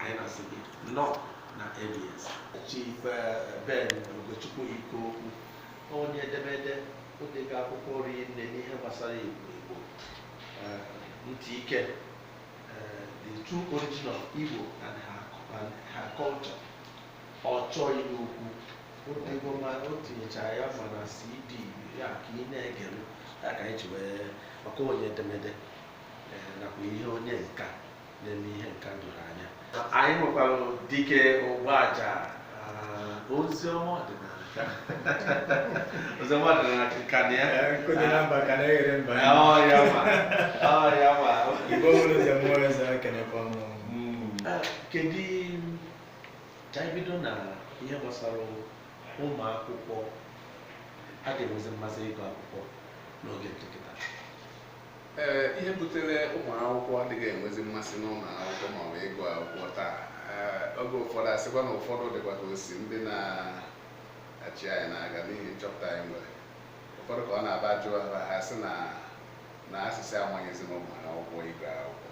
anyị na-asị gị nnọọ na ABS Chief eh, Ben Ugochukwu Ikokwu onye edemede o dego akwụkwọ rinne n'ihe gbasara Igbo Igbo eh, ntị ike eh, the true origin of Igbo and her, and her culture Ọchọ ihe ukwu o dego ma o tinyechara ya ma na CD ya ka ị na-egere ya ka anyị ji wee maka onye edemede eh, nakwa ihe onye nka na-eme ihe nka doro anya anyị nwekwara Dike Ugbaja ozi ọma ọdịnala ka ozi ọma ọdịnala ka na ya Nkụ dị na mba ka na-eghere mba ya. ọ ya ma ọ ya ma Igbo mụrụ ọzọ mụọ eze ekenekwa m. Mm. Ah, kedu ka anyị bido na ihe gbasara ụmụ akwụkwọ adịghị enwezi mmasị ịgụ akwụkwọ n'oge dị kịta ee ihe butere ụmụ akwụkwọ adịghị enwezi mmasị n'ụlọ akwụkwọ ma ọ bụ ịgụ akwụkwọ taa ee, oge ụfọdụ asịkwa na ụfọdụ dịkwa ka o si ndị na-achị anyị n'aka n'ihi nchọpụta anyị nwere ụfọdụ ka ọ na-abụ a jụọ ha ha sị na na a sị sị amanyezina ụmụ akwụkwọ ịgụ akwụkwọ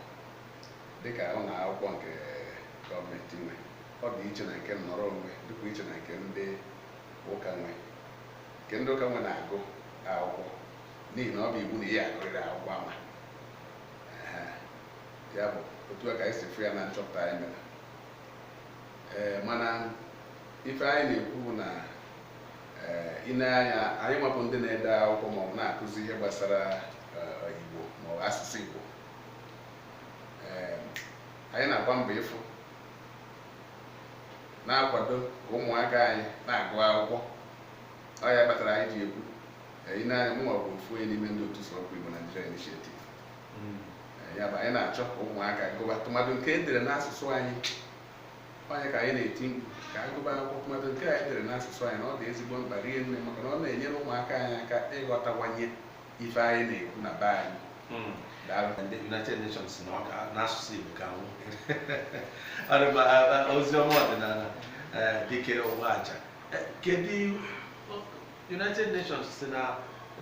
dịka ụlọ akwụkwọ nke gọọmenti nwe ọ dị iche na nke nnọrọ onwe dịkwa iche na nke ndị ụka nwe nke ndị ụka nwe na-agụ akwụkwọ n'ihi na ọ bụ iwu na ị ya-agụrịrị akwụkwọ ama ya bụ otu a ka anyị si fụ ya na nchọpụta anyị mere ee mana ife anyị na-ekwu bụ na i nee anya anyị nwa bụ ndị na-ede akwụkwọ maọbụ na-akụzi ihe gbasara Igbo maọbụ asụsụ Igbo anyị na-agba mbọ ịfụ na-akwado ka ụmụaka anyị na-agụ akwụkwọ ọ ya kpatara anyị ji ekwu i nee anya mụ nwa bụ ofu onye n'ime ndị Otu Sụwakwa Igbo Nigeria Initiative ya bụ anyị na-achọ ka ụmụaka gụba tụmadụ nke e dere n'asụsụ anyị ọ nya ka anyị na-eti mkpu ka a gụba akwụkwọ tụmadụ nke anyị dere n'asụsụ anyị na ọ dị ezigbo mkpa rinne maka na ọ na-enyere ụmụaka anyị aka ịghọtawanye ife anyị na-ekwu na be anyị ndị United Nations na ọ ga na asụsụ Igbo ga-anwụ ozi ọma ọdịnala Dike Ugbaja kedu United Nations sị na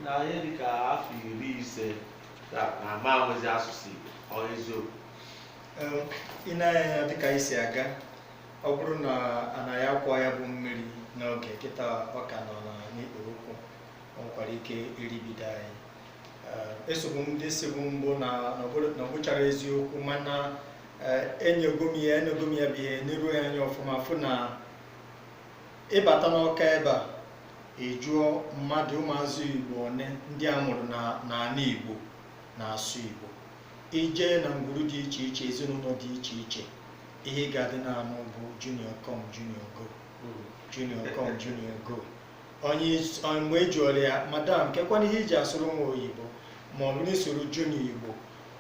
na ihe dị ka afọ iri ise na a ma-enwezi asụsụ Igbo ọ eziokwu i nee anya dịka e si aga ọ bụrụ na a naghị akwọ ya bụ mmiri n'oge kịta ọ ka nọ n'ikpere ụkwụ ọ nwekwara ike iribido anyị esobu m ndị sịbu mbụ na ọ bụcharọ eziokwu mana enego m ya enego m ya bụ ihe neruo ya anya ọfụma fụ na ị bata n'ọka ebe a ị jụọ mmadụ ụmụazụ igbo one ndị a mụrụ n'ala igbo na-asụ igbo i je na ngwuru dị iche iche ezinụlọ dị iche iche ihe ị ga-adị na-anụ bụ junior come junior go hmm. junior come junior go onye mgbe e jụọrọ ya madam kekwanụ ihe i ji asụrụ nwa oyibo ma ọ bụrụ ị sụọrọ junior igbo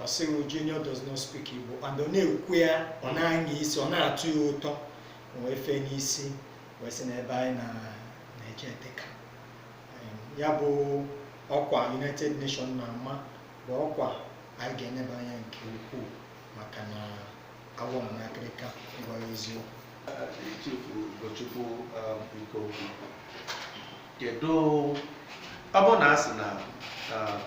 ọ sị gị junior does not speak igbo and ọ na-ekwu ya ọ na-anya isi ọ na-atọ ya ụtọ wee fee n'isi wee sị na ebe anyị na-eje dịka ya bụ ọkwa United Nations na-ama bụ ọkwa anyị ga-eneba anya nke ukwuu maka na agwọ nọ n'akịrịka ịgwa ya eziokwu Chifu Ugochukwu um, biko kedu ọ bụrụ na a sị na um,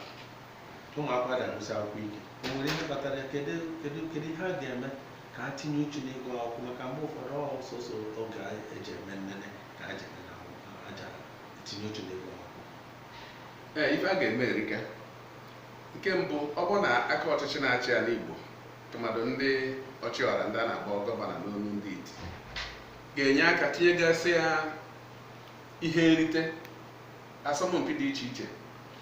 ụmụ akwụkwọ ga-agụsi akwụkwọ ike o nwere ihe kpatara ya kedu kedu kedu ihe a ga-eme ka ha tinye uchu n'ịgụ akwụkwọ maka mgbe ụfọdụ ọ sọsọ oge e ji eme nnene ka ha ji nnene akwụkwọ ha ji etinye uchu n'ịgụ akwụkwọ ee ife a ga-eme erika nke mbụ ọ bụ na aka ọchịchị na-achị ala igbo tụmadụ ndị ọchịọra ndị a na-akpọ gọvanọ n'olu ndị iti ga-enye aka tinyegasịa ihe nrite asọmpi dị iche iche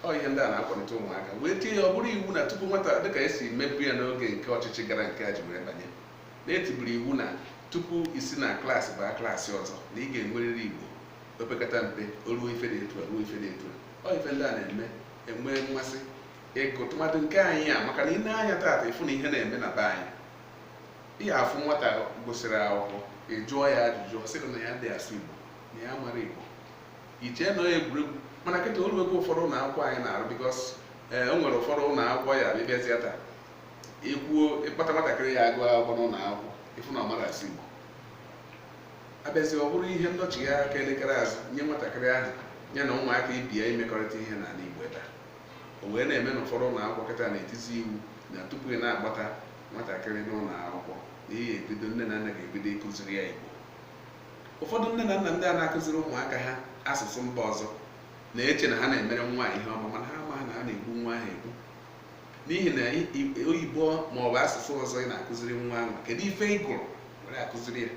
ọ ihe ndị a na-akwalite ụmụaka wee tie ya ọ bụrụ iwu na tupu nwata dịka e si mebu ya n'oge nke ọchịchị gara nke a ji wee banye na e tiburu iwu na tupu i si na klaasị baa klaasị ọzọ na ị ga-enwerịrị igbo opekata mpe o ruo ife dị etu a ruo ife dị etu a ọ ife ndị a na-eme enwe mmasị ịgụ tụmadụ nke anyị a maka na i nee anya taata ị fụ na ihe na-eme na be anyị ị ya-afụ nwata gụsịrị akwụkwọ ị jụọ ya ajụjụ ọ sị gị na ya adị asụ igbo na ya amarọ igbo i chee na ọ egwuregwu mana kịta o lue ebe ụfọdụ ụlọ akwụkwọ anyị na-arụ because eh, o nwere ụfọdụ ụlọ akwụkwọ ya bịbịazịa taa ikwuo ị kpọta nwatakịrị ya-agụ akwụkwọ n'ụlọ akwụkwọ ị fụ na ọ marọ asụ Igbo abịazi ọ bụrụ ihe ndọchigha aka elekere azụ nye nwatakịrị ahụ ya na ụmụaka ibe ya imekọrịta ihe n'ala Igbo ebe a o wee na-eme na ụfọdụ ụlọ akwụkwọ kịta na-etizi iwu na tupu ị na-akpọta nwatakịrị n'ụlọ akwụkwọ na ị ya-ebido nne na nna ga-ebido ịkụziri ya Igbo ụfọdụ nne na nna ndị a na-akụziri ụmụaka ha asụsụ mba ọzọ na-eche na ha na-emere nwa ihe ọma mana ha amaghị na ha na-egbu nwa ahụ egbu n'ihi na oyibo ma ọ bụ asụsụ ọzọ ị na-akụziri nwa ahụ kedu ife ị gụrụ were akụziri ya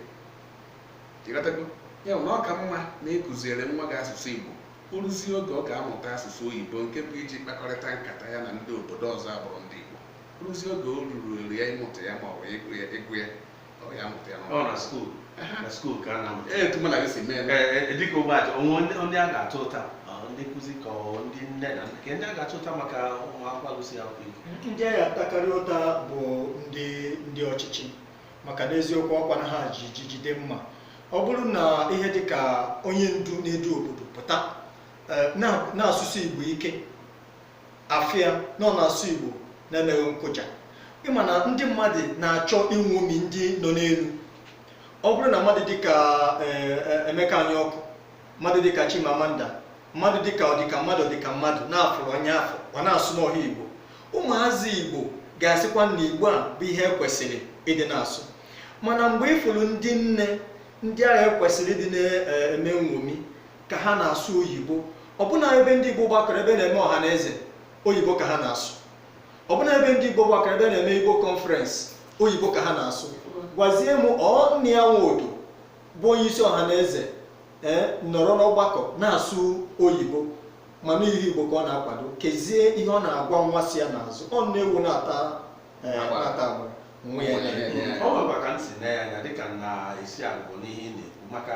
ị ghọtago ya bụ na ọ ka mma na ị kụziere nwa gị asụsụ igbo ọ bụrụzie oge ọ ga-amụta asụsụ oyibo nke bụ iji kpakọrịta nkata ya na ndị obodo ọzọ abụrọ ndị igbo ọ bụrụzie oge o ruru eru ya ịmụta ya ma ọ bụ ịgụ ya Ọ bụ ya mụta ya n'ụlọ. ọ na skuul na skuul ka a na-amụta Ee, etu mụ na gị si mee eme. Ee, dịka ogbe aja onwe ndị ndị a ga-ata ụta ọ, ndị nkụzi ka ọ ndị nne na nna ka ndị a ga-ata ụta maka ụmụ akwụkwọ agụsị akwụkwọ igbo ndị a ga-atakarị ụta bụ ndị ndị ọchịchị maka n'eziokwu ọkwa na ha ji ji jide mma ọ bụrụ na ihe dị ka onye ndu na-edu obodo pụta eh, na- na-asụsi igbo ike afụ ya na ọ na-asụ igbo na-emeghị nkụja ịma na ndị mmadụ na-achọ inwomi ndị nọ n'elu ọ bụrụ na mmadụ dịka eh, eh, emeka anyaọkụ mmadụ dịka chimamanda mmadụ dịka ọdịka mmadụ ọdịka mmadụ na-afụrụ onye afụ ọ na-asụ n'ọha igbo ụmụazị igbo ga-asịkwa na igbo a bụ ihe ekwesịrị ịdị na-asụ mana mgbe ịfụrụ ndị nne ndị a ha kwesịrị ịdị na-eme nwomi ka ha na-asụ oyibo ọbụna ebe ndị Igbo gbakọrọ ebe na-eme ọha na eze oyibo ka ha na-asụ ọbụna ebe ndị Igbo gbakọrọ ebe na-eme Igbo conference oyibo ka ha na-asụ gwazie m ọ Nnia Nwodo bụ onye isi ọha na eze ee nọrọ n'ọgbakọ na-asụ oyibo mana ihe Igbo ka ọ na-akwado kezie ihe ọ na-agwa nwa si ya n'azụ ọ nne ewu na-ata ee, Agbara. na-ata agbara nwa ya na-ele. ọ nwekwa ka m si na ya anya dịka m na-esi agwụ n'ihe ị na-ekwu maka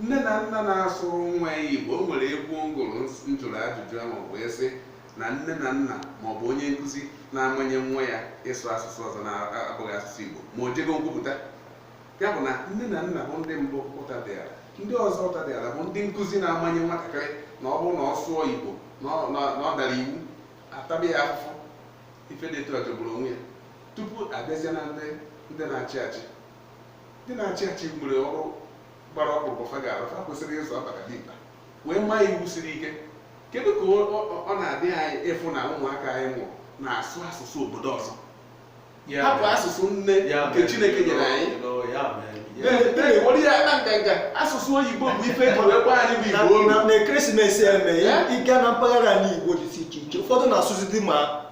nne na nna na-asụrụ nwa ya igbo o nwere egwu m gụrụ m jụrụ ajụjụ ahụ wee sị na nne na nna ma ọ bụ onye nkụzi na-amanye nwa ya ịsụ asụsụ ọzọ na-abụghị asụsụ igbo ma o jego nkwupụta ya bụ na nne na nna bụ ndị mbụ ụta dịala ndị ọzọ ụta dịala bụ ndị nkụzi na-amanye nwatakịrị na ọ bụrụ na ọ sụọ igbo na ọ- na na ọ dara iwu ataba ya afụfụ ife dị etu a jọgburu onwe ya tupu abịazie na ndị ndị na-achị achị ndị na-achị achị nwere ọrụ gbara ọkpụrụkpụ fa ga-arụ fa kwesịrị ịzụ ọbara dimkpa wee maa iwu siri ike kedu ka ọ- ọ ọ na-adị anyị ịfụ na ụmụaka anyị mụrụ na-asụ asụsụ obodo ọzọ Ya hapụ mere- asụsụ nne ya nke mere- Chineke nyere anyị No, ya mere- ya mere- na-ewere ya na nganga asụsụ oyibo bụ ife eji wee gbaa anyị bụ Igbo na- olu na- na Christmas eme Eh? ịga na mpaghara ala igbo dịsị iche iche ụfọdụ na-asụzi di ma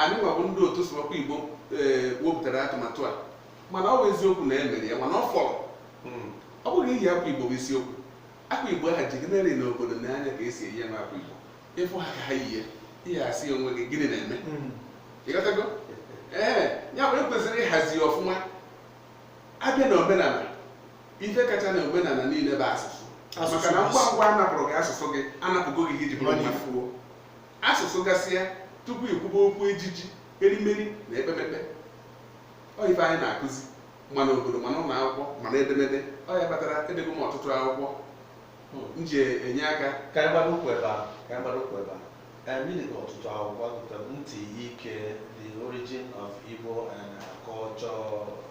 anyị nwa bụ ndị otu sụwakwa igbo ee wepụtara atụmatụ a mana ọ bụ eziokwu na e mere ya mana ọ fọrọ hmm. ọ bụghị iyi akwa igbo bụ isiokwu akwa igbo aha ji gị nere n'obodo na anya ka esi eyi ya akwa igbo ịfụ ha ka ha yie ihe asị onwe gị gịnị na-eme hmm. ịghọtago ee ya bụ ekwesịrị ịhazi ọfụma abịa na omenala ife kacha na omenala niile bụ asụsụ maka na ngwa ngwa anapụrụ gị asụsụ gị anapụgo gị iji bụrụ onye i fuo Asụsụ gasịa tupu ikwube okwu ejiji, erimeri na ekpemekpe. Ọ ife anyị na-akụzi ma n'obodo ma n'ụlọ akwụkwọ ma n'edemede. Ọ ya kpatara edego m ọtụtụ akwụkwọ m ji enye aka. Ka anyị gbado ụkwụ ebe a, ka anyị gbado ụkwụ ebe a. Em, ị dego ọtụtụ akwụkwọ, agụta m ntị ike, The Origin of Igbo and Culture.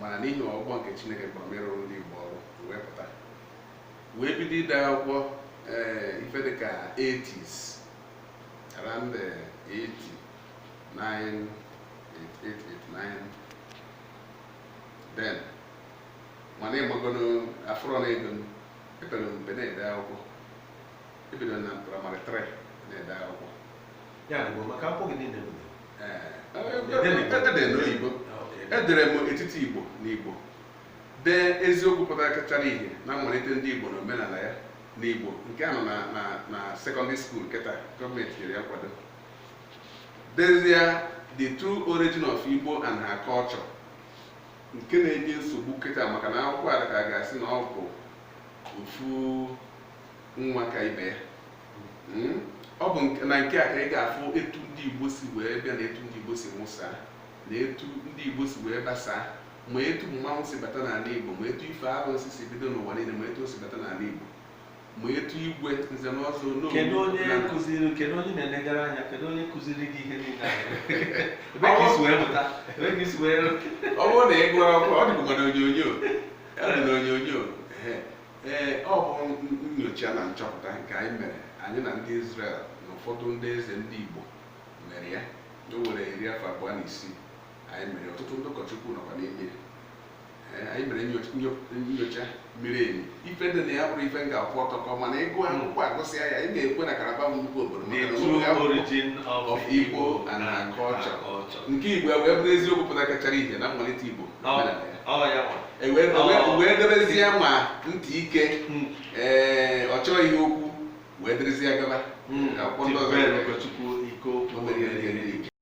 mana n'ihi ọkpụkpọ nke Chineke kpọrọ m ịrụrụ ndị Igbo ọrụ wee pụta wee bido ide akwụkwọ ee eh, ife dịka 80s around 89 eh, 88 89 then mana ịmagono afụrọ m ego epere m mpe na-ede akwụkwọ ebido na praịmarị 3 na-ede akwụkwọ ya bụ maka akwụkwọ gị niile edere m etiti igbo n'igbo dee eziokwu pụtakachara ihe na mmalite ndị igbo na omenala ya n'igbo nke a nọ na sekọndịrị skuul kịta gọọmenti nyere ya nkwado dezie the true origin of igbo and her culture nke na-enye nsogbu kịta maka na akwụkwọ a ka a ga-asị na ọ bụ ofu nwa ka ibe ya Hmm? ọ bụ na nke a ka ị ga-afụ etu ndị Igbo si wee bịa na etu ndị Igbo si mụsa na etu ndị Igbo si wee gbasaa ma etu mmanwụ si bata n'ala Igbo ma etu ife arụsị si bido n'ụwa niile ma etu o si bata n'ala Igbo ma etu igwe nze na ọzọ kedu onye kụziri kedu onye na-elegara anya kedu onye kụziri gị ihe niile ebee ka i si wee mụta ebee ka i si wee ọ bụrụ na ị gụrụ akwụkwọ ọ dịbụkwa na onyonyo ọ dị na onyonyo ee ọ bụ nyocha na nchọpụta nke anyị mere anyị na ndị Izrel na ụfọdụ ndị eze ndị Igbo mere ya o were iri afọ abụọ na isii anyị mere ọtụtụ ndị ụkọchukwu nọkwa n'ime ya anyị mere nyocha miri emi ife dị na ya bụrụ ife m ga-akwụ ọtọ kaa mana ịgụ hmm. akwụkwọ agụsịa ya ị ga-ekwe na karaba nnukwu obodo Igbo na nke Igbo wee bụrụ eziokwu pụtakachara ihe na mmalite Igbo E wee- e wee- e wee debezie ma ntị ike Mm. ee ọchọ ihe okwu wee derezie gaba Mm. Akwụkwọ ndị ọzọ. Chibere Ugochukwu Ike Okwu. O nwere ihe dị elu.